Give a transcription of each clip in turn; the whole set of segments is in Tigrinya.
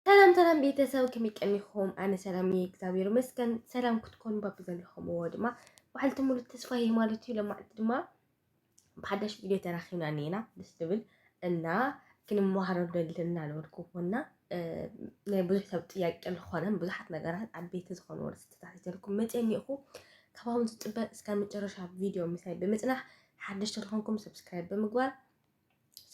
ሰላም ሰላም ቤተሰብ ከመይ ቀኒኹም? ኣነ ሰላም እየ እግዚኣብሔር ይመስገን። ሰላም ክትኮኑ ባብ ዘለኹምዎ ድማ በዓልቲ ሙሉ ተስፋ እየ ማለት እዩ። ለማዕልቲ ድማ ብሓዳሽ ቪድዮ ተራኺብና እኒና ደስ ዝብል እና ክንመሃሮ ደልና ዝበልኩዎና ናይ ብዙሕ ሰብ ጥያቄ ዝኾነ ብዙሓት ነገራት ዓበይቲ ዝኾኑ ርስቲታት ይዘልኩም መፅን ይኹ ካብውን ዝፅበ እስካብ መጨረሻ ቪድዮ ምሳይ ብምፅናሕ ሓደሽቲ ዝኾንኩም ሰብስክራይብ ብምግባር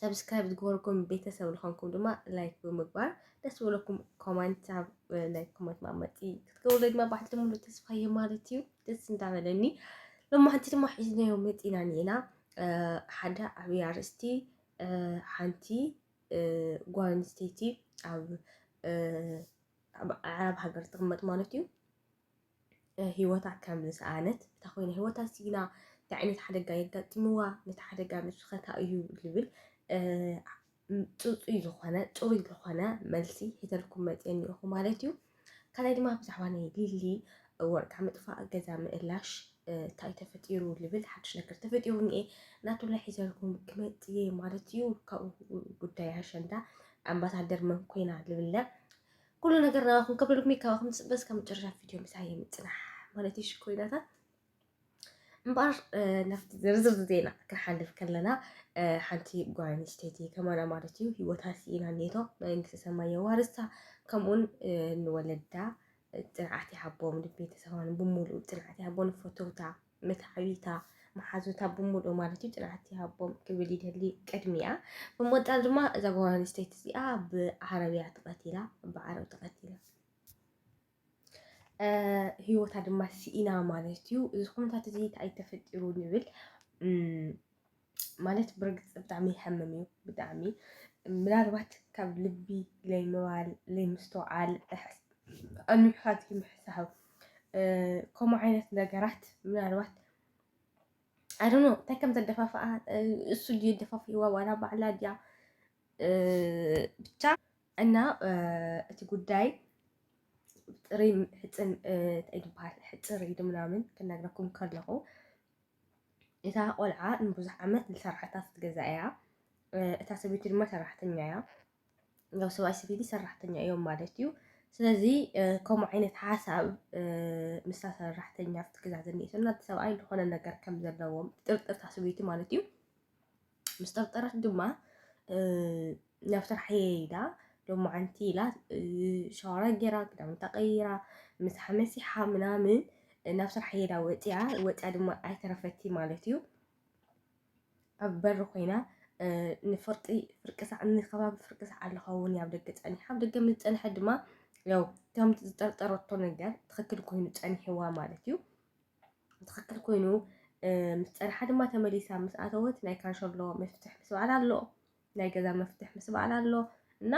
ሰብስክራይብ ዝገበርኩም ቤተሰብ ዝኾንኩም ድማ ላይክ ብምግባር ደስ ዝበለኩም ኮመንት ኣብ ናይ ኮመንት ማመፂ ክትገብሩ ድማ ባሕቲ ድማ ተስፋ እየ ማለት እዩ ደስ እንዳበለኒ ሎማሕንቲ ድማ ሒዝናዮ መፂና ኒና ሓደ ዓብዪ ኣርእስቲ ሓንቲ ጓል ኣንስተይቲ ኣብ ዓረብ ሃገር ትቕመጥ ማለት እዩ ህይወታ ከም ዝሰኣነት እታ ኮይና ህይወታ ሲኢና እንታይ ዓይነት ሓደጋ የጋጢምዋ ነቲ ሓደጋ ንስኸታ እዩ ዝብል ፅፁይ ዝኾነ ፅሩይ ዝኾነ መልሲ ሒተልኩም መፅየ እኒኦኹ ማለት እዩ ካልኣይ ድማ ብዛዕባ ናይ ሊሊ ወርቃ ምጥፋእ ገዛ ምእላሽ እንታይ ተፈጢሩ ልብል ሓድሽ ነገር ተፈጢሩ እኒኤ ናቱ ላይ ሒዘልኩም ክመፅ እየ ማለት እዩ ካብኡ ጉዳይ ኣሸንዳ ኣምባሳደር መን ኮይና ልብለ ኩሉ ነገር ናባኹም ከብሎ ሎሚ ካባኹም ዝፅበ እስካብ መጨረሻ ቪድዮ ምሳይ ምፅናሕ ማለት እዩ ሽኮይናታት እምበኣር ናብቲ ዝርዝር ዜና ክንሓልፍ ከለና ሓንቲ ጓል ኣንስተይቲ ከማና ማለት እዩ ሂወታ ስኢና ኔቶ መንግስቲ ሰማይ የዋርስታ ከምኡውን ንወለዳ ፅንዓት ይሃቦም ንቤተሰባን ብምሉእ ፅንዓት ይሃቦ ንፈተውታ መትዓቢታ መሓዙታ ብምሉኡ ማለት እዩ ፅንዓት ይሃቦም ክብል ይደሊ ቅድሚያ። ብምቕፃል ድማ እዛ ጓል ኣንስተይቲ እዚኣ ብዓረብያ ተቐቲላ ብዓረብ ተቐቲላ ህይወታ ድማ ስኢና ማለት እዩ። እዚ ኩነታት እዚ እንታይ ተፈጢሩ ንብል ማለት ብርግፅ ብጣዕሚ ይሐምም እዩ ብጣዕሚ ምናልባት ካብ ልቢ ለይምባል ለይምስተውዓል ኣንብብኻት ይምሕሳብ ከምኡ ዓይነት ነገራት ምናልባት ኣዶኖ እንታይ ከም ዘደፋፍኣ እሱ ድዩ ደፋፊዋ ዋላ ባዕላ ድያ ብቻ እና እቲ ጉዳይ ጥሪ ሕፅን እንታይ ዝበሃል ሕፅር ኢሉ ምናምን ክነግረኩም ከለኹ እታ ቆልዓ ንብዙሕ ዓመት ዝሰርሓታ ኣብቲ ገዛ እያ። እታ ሰበይቲ ድማ ሰራሕተኛ እያ። ያው ሰብኣይ ሰበይቲ ሰራሕተኛ እዮም ማለት እዩ። ስለዚ ከምኡ ዓይነት ሓሳብ ምስ ሰራሕተኛ ኣብቲ ገዛ ዝኒኤቶ እና እቲ ሰብኣይ ዝኾነ ነገር ከም ዘለዎም ጥርጥርታ ሰበይቲ ማለት እዩ ምስ ጠርጠረት ድማ ናብ ስራሕ እየ ኢላ ሎማዓንቲ ኢላ ሻወራ ጌራ ክዳውንታ ቀይራ ምሳ መሲሓ ምናምን ናብ ስራሕ ሄዳ ወፅያ ወፅያ ድማ ኣይተረፈቲ ማለት እዩ ኣብ በሪ ኮይና ንፍርቂ ፍርቂ ሳዕ ንከባቢ ፍርቂ ሳዕ ኣለኸውን ኣብ ደገ ፀኒሓ ኣብ ደገ ምስ ፀንሐ ድማ ያው ከምቲ ዝጠርጠረቶ ነገር ትኽክል ኮይኑ ፀኒሕዋ ማለት እዩ ትኽክል ኮይኑ ምስ ፀንሓ ድማ ተመሊሳ ምስ ኣተወት ናይ ካንሸሎ መፍትሕ ምስ በዓል ኣሎ ናይ ገዛ መፍትሕ ምስ በዓል ኣሎ እና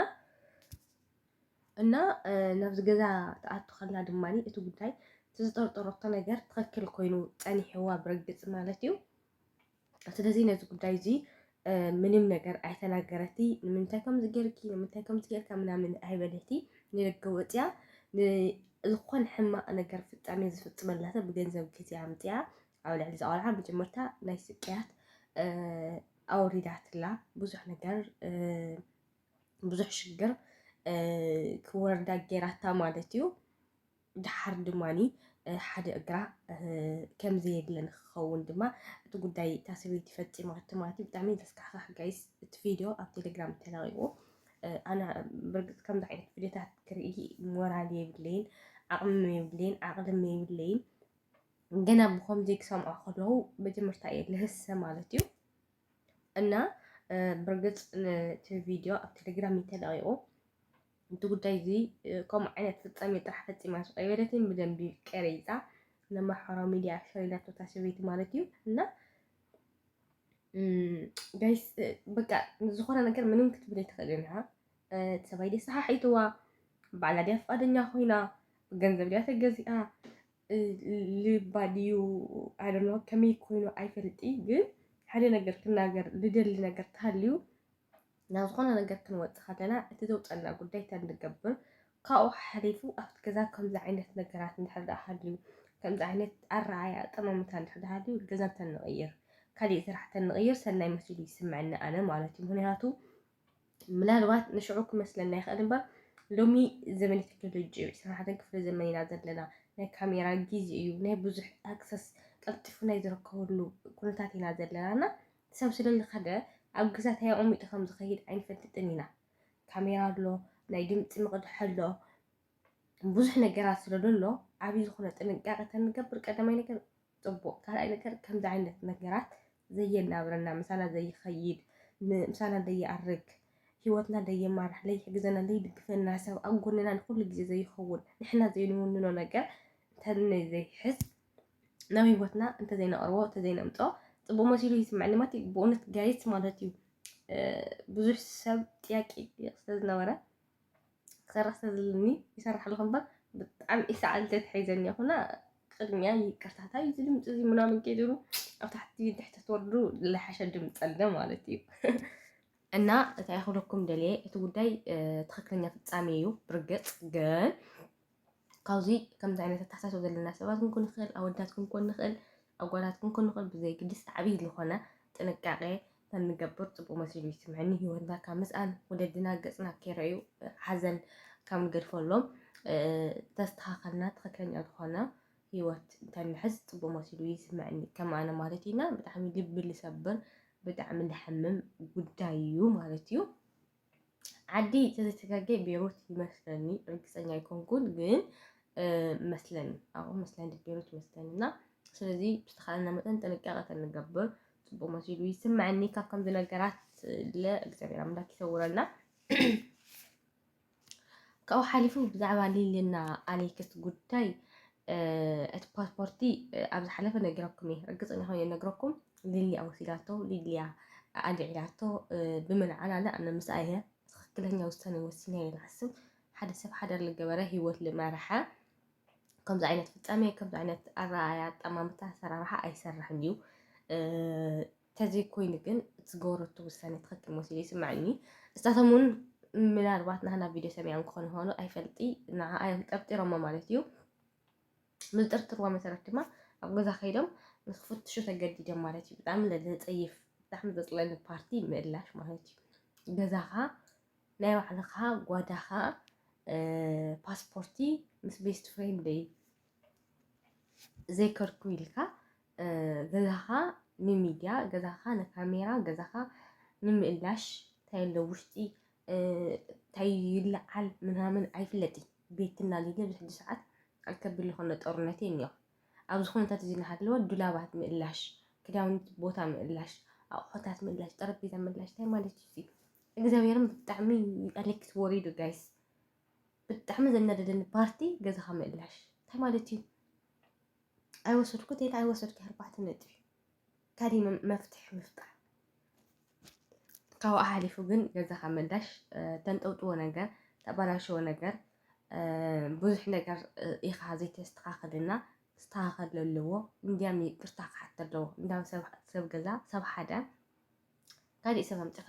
እና ናብዚ ገዛ ትኣቱ ከላ ድማ እቲ ጉዳይ ዝጠርጠረቶ ነገር ትኽክል ኮይኑ ፀኒሕዋ ብርግፅ ማለት እዩ ስለዚ ነዚ ጉዳይ እዚ ምንም ነገር ኣይተናገረቲ ንምንታይ ከምዚ ጌርኪ ንምንታይ ከምዚ ጌርካ ምናምን ኣይበለቲ ንደገ ወፅያ ዝኾነ ሕማቕ ነገር ፍፃሜ ዝፍፅመላ ሰብ ብገንዘብ ግዜኣ ኣምፅኣ ኣብ ልዕሊ ዝቆልዓ መጀመርታ ናይ ስቅያት ኣወሪዳትላ ብዙሕ ነገር ብዙሕ ሽግር ክወርዳ ጌራታ ማለት እዩ። ደሓር ድማ ሓደ እግራ ከም ዘየድለ ንክኸውን ድማ እቲ ጉዳይ እታ ሰበይቲ ፈፂማቶ ማለት እዩ። ብጣዕሚ ዘስካሕካሕ ጋይስ እቲ ቪድዮ ኣብ ቴሌግራም ተለቂቁ ኣነ ብርግፅ ከምዚ ዓይነት ቪድዮታት ክርኢ ሞራል የብለይን፣ ዓቕሚ የብለይን፣ ዓቕልም የብለይን። ገና ብከምዚ ክሰምዖ ከለዉ መጀመርታ እየ ልህሰ ማለት እዩ እና ብርግፅ እቲ ቪድዮ ኣብ ቴሌግራም ተለቂቑ እቲ ጉዳይ እዚ ከምኡ ዓይነት ፍጻሜ ጥራሕ ፈጺማስ ኣይበለትን ብደንቢ ቀሪጻ ንማሕበራዊ ሚድያ ኣሸሪዳቶ እታ ሰበይቲ ማለት እዩ እና ጋይስ በቃ ዝኾነ ነገር ምንም ክትብል ኣይትኽእልን እያ እቲ ሰብኣይ ድያ ሰሓሒትዋ ባዕላ ድያ ፍቃደኛ ኮይና ገንዘብ ድያ ተገዚኣ ልባ ድዩ ኣደኖ ከመይ ኮይኑ ኣይፈልጥ ግን ሓደ ነገር ክናገር ልደሊ ነገር ተሃልዩ ናብ ዝኾነ ነገር ክንወጽእ ከለና እቲ ዘውጸና ጉዳይ እንታይ ንገብር ካብኡ ሓሊፉ ኣብቲ ገዛ ከምዚ ዓይነት ነገራት እንድሕር ደኣ ሃልዩ ከምዚ ዓይነት ኣረኣእያ ኣጠማምታ እንድሕር ደኣ ሃልዩ ገዛ እንተንቕይር ካሊእ ስራሕ እንተንቕይር ሰናይ መሲሉ ይስምዐኒ ኣነ ማለት እዩ ምክንያቱ ምናልባት ንሽዑ ክመስለና ይኽእል እምበር ሎሚ ዘመን ቴክኖሎጂ እዩ ዕስራን ሓደን ክፍለ ዘመን ኢና ዘለና ናይ ካሜራ ግዜ እዩ ናይ ብዙሕ ኣክሰስ ቀልጢፉ ናይ ዝርከበሉ ኩነታት ኢና ዘለና እና ሰብ ስለ ልከደ ኣብ ገዛ ታይ ኣቀሚጡ ከም ዝከይድ ኣይንፈልጥን ኢና ካሜራ ኣሎ ናይ ድምፂ መቅድሒ ኣሎ ብዙሕ ነገራት ስለ ደሎ ዓብይ ዝኮነ ጥንቃቀ ተንገብር ቀዳማይ ነገር ፅቡቅ ካልኣይ ነገር ከምዚ ዓይነት ነገራት ዘየናብረና ምሳና ዘይከይድ ምሳና ደይኣርግ ሂወትና ደየማራሕ ለይሕግዘና ለይድግፈና ሰብ ኣብ ጎንና ንኩሉ ግዜ ዘይከውን ንሕና ዘይንውንኖ ነገር እንተዘይሕዝ ናብ ህይወትና እንተዘይነቕርቦ እንተዘይነምጾ ፅቡቅ መሲሉ ይስምዐኒ ማለት እዩ። ብእውነት ጋይት ማለት እዩ ብዙሕ ሰብ ጥያቄ ይጥየቅ ስለዝነበረ ክሰርሕ ስለዝልኒ ይሰርሕ ኣለኹ እምበር ብጣዕሚ ኢሰዓል ተትሒዘኒ ይኹና ቅድሚያ ይቅርታታ እዩ ድምፂ እዚ ምናምን ጌድሩ ኣብ ታሕቲ ድሕቲ ትወርዱ ዝለሓሸ ድምፂ ኣለ ማለት እዩ እና እንታይ ክብለኩም ደልየ እቲ ጉዳይ ትክክለኛ ፍፃሜ እዩ ብርግፅ ግን ካብዚ ከምዚ ዓይነት ኣተሓሳስባ ዘለና ሰባት ክንኮን ንኽእል፣ ኣወዳት ክንኮን ንኽእል፣ ኣጓላት ክንኮን ንኽእል፣ ብዘይግድስ ዓብዪ ዝኾነ ጥንቃቄ ተንገብር ፅቡቕ መሲሉ ይስምዐኒ። ህይወትና ካብ ምስኣን ወለድና ገፅና ከይረኣዩ ሓዘን ካብ ንገድፈሎም ተስተኻኸልና ትኽክለኛ ዝኾነ ህይወት እንተንሕዝ ፅቡቕ መሲሉ ይስምዐኒ። ከም ኣነ ማለት እዩና ብጣዕሚ ልቢ ልሰብር ብጣዕሚ ልሕምም ጉዳይ እዩ ማለት እዩ። ዓዲ ተዘይተጋጌ ቤሩት ይመስለኒ ርግፀኛ ኣይኮንኩን ግን መስለኒ ኣብ መስለኒ ቤሩት ይመስለኒ እና ስለዚ ብዝተኻለና መጠን ጥንቃቐ ተንገብር ፅቡቅ መሲሉ ይስምዐኒ ካብ ከምዚ ነገራት ለእግዚኣብሔር ኣምላክ ይሰውረና ካብኡ ሓሊፉ ብዛዕባ ሊልና ኣሌክስ ጉዳይ እቲ ፓስፖርቲ ኣብ ዝሓለፈ ነጊረኩም እየ ርግፀኛ ኮይነ ይነግረኩም ሊሊያ ወሲዳቶ ሊሊያ ኣልዒላቶ ብመልዓላ ላ ኣነ ምስኣ እየ ትክክለኛ ውሳኔ ወሲነ እየ ንሓስብ ሓደ ሰብ ሓደር ልገበረ ሂወት ልመርሐ ከምዚ ዓይነት ፍፃሜ ከምዚ ዓይነት ኣረኣያ ኣጠማምታ ኣሰራርሓ ኣይሰርሕን እዩ ተዘይ ኮይኑ ግን ዝገበረቶ ውሳኔ ትክክል መሲሉ ይስምዐኒ እሳቶም እውን ምናልባት ናህና ቪድዮ ሰሚዖም ክኾኑ ኾኑ ኣይፈልጢ ንዓኣ እዮም ጠርጢሮሞ ማለት እዩ ምዝጥርጥርዎ መሰረት ድማ ኣብ ገዛ ከይዶም ንክፍትሹ ተገዲዶም ማለት እዩ ብጣዕሚ ዘፀይፍ ብጣዕሚ ዘፅለኒ ፓርቲ ምእላሽ ማለት እዩ ገዛኻ ናይ ባዕልኻ ጓዳኻ ፓስፖርቲ ምስ ቤስት ፍሬንደይ ዘይከርኩ ኢልካ ገዛኻ ንሚድያ ገዛኻ ንካሜራ ገዛኻ ንምእላሽ እንታይ ኣሎ ውሽጢ እንታይ ይለዓል ምናምን ኣይፍለጥይ ቤትና ሊለ ብሕጂ ሰዓት ኣልከቢል ዝኾነ ጦርነት እዩ እኒኦ ኣብዚ ኩነታት እዚ እናሃለወ ዱላባት ምእላሽ ክዳውንቲ ቦታ ምእላሽ ኣቑሑታት ምእላሽ ጠረጴዛ ምእላሽ እንታይ ማለት እዩ እግዚኣብሔርም ብጣዕሚ ኣሌክስ ወሪዱ ጋይስ ብጣዕሚ ዘናደደኒ ፓርቲ ገዛኻ ምእላሽ እንታይ ማለት እዩ ኣይወሰድኩ ቴለ ኣይወሰድኪ ኣርባዕተ ነጥቢ ካልእ መፍትሒ ምፍጣር ካብኡ ሓሊፉ ግን ገዛኻ መዳሽ ተንጠውጥዎ ነገር ተባላሸዎ ነገር ብዙሕ ነገር ኢኻ ዘይተስተኻኸልና ክስተኻኸል ኣለዎ እንዲያም ይቅርታ ክሓት ኣለዎ እንዳም ሰብ ገዛ ሰብ ሓደ ካልእ ሰብ ኣምፅኻ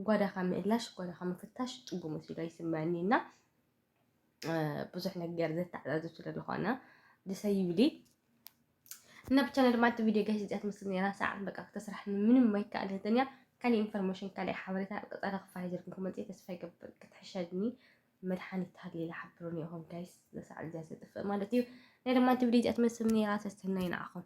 ጓዳኻ ምእላሽ ጓዳኻ ምፍታሽ ፅቡቅ መሲሉ ኣይስምዐኒ እና ብዙሕ ነገር ዘተዓዛዝብ ስለ ዝኾነ ደሰይ ይብሊ እና ብቻ ድማ እቲ ቪድዮ ጋሽ እዚኣ ትመስል ነራ ሰዓት በቃ ክተስራሕ ምንም ማይከኣል ህተንያ ካልእ ኢንፎርሜሽን ካልእ ሓበሬታ ኣብ ቀፃሊ ክፋይ ዘልኩም ክመፅእ ተስፋ ይገብር ክትሕሸኒ መድሓኒት ሃሊለ ሓብሩኒ ኢኹም ጋይስ ዘሰዓት እዚኣ ዘጥፍእ ማለት እዩ ናይ ድማ እቲ ቪድዮ እዚኣ ትመስል ነራ ሰስተናይ ንዓኹም